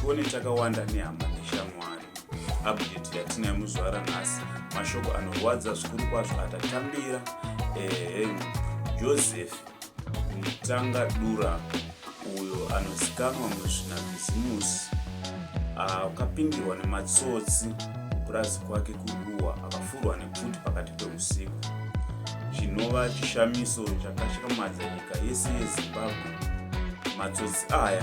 tione chakawanda nehama neshamwari update yatinayo muzvara nhasi mashoko anorwadza zvikuru kwazvo atatambira ehe joseph mutanga dura uyo anozikamwa muzvina bhizimusi akapindirwa nematsotsi kupurazi kwake kuruwa akafurwa nepfuti pakati peusiku chinova chishamiso chakashikamadza nyika yese yezimbabwe matsotsi aya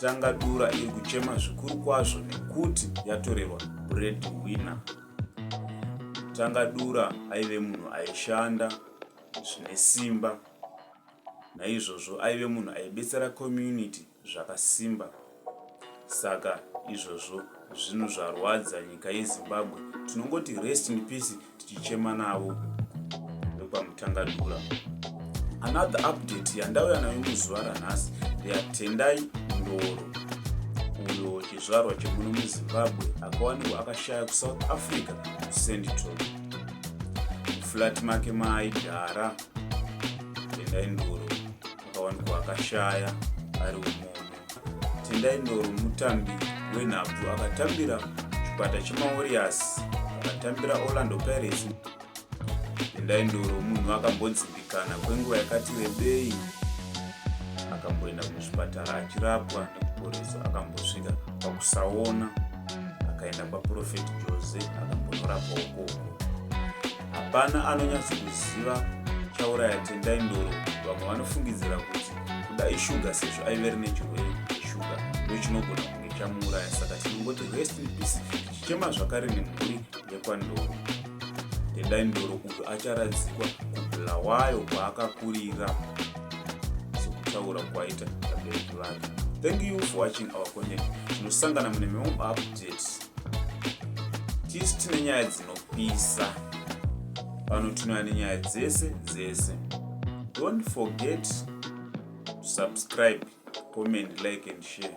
Tanga Dura iri kuchema zvikuru kwazvo nekuti yatorerwa bread winner. Tanga Dura aive munhu aishanda zvine simba, naizvozvo aive munhu aibetsera community zvakasimba. Saka izvozvo zvinhu zvarwadza nyika yeZimbabwe. Tinongoti rest in peace tichichema navo vekwamutangadura another update yandauya nayo muzuva ranhasi ndeyatendai ndoro uyo chizvarwa chemuno muzimbabwe akawanikwa akashaya kusouth africa central muflat make maaigara tendai ndoro akawanikwa akashaya ari umono Tendai Ndoro mutambi wenhabvu akatambira chikwata chemaWarriors, akatambira Orlando Pirates. Tendai Ndoro munhu akambodzimbikana kwenguva yakati rebei, akamboenda kuzvipatara achirapwa nekuporeswa, akambosvika pakusaona akaenda kwaProfet Jose akambonorapwa ukoko. hapana anonyatsokuziva chauraya tendai ndoro vamwe vanofungidzira kuti kuda ishuga sezvo aive rine chirwere cheshuga ndochinogona kunge chamuuraya saka tinongoti rest in peace chichema zvakare nemhuri yekwandoro tendai ndoro uyo acharadzikwa kubulawayo kwaakakurira sekutaura kwaita vabereki vake thank you for watching our content tinosangana mune mimwe maupdates tisu tine nyaya dzinopisa pano tinoya nenyaya dzese dzese don't forget to subscribe comment like and share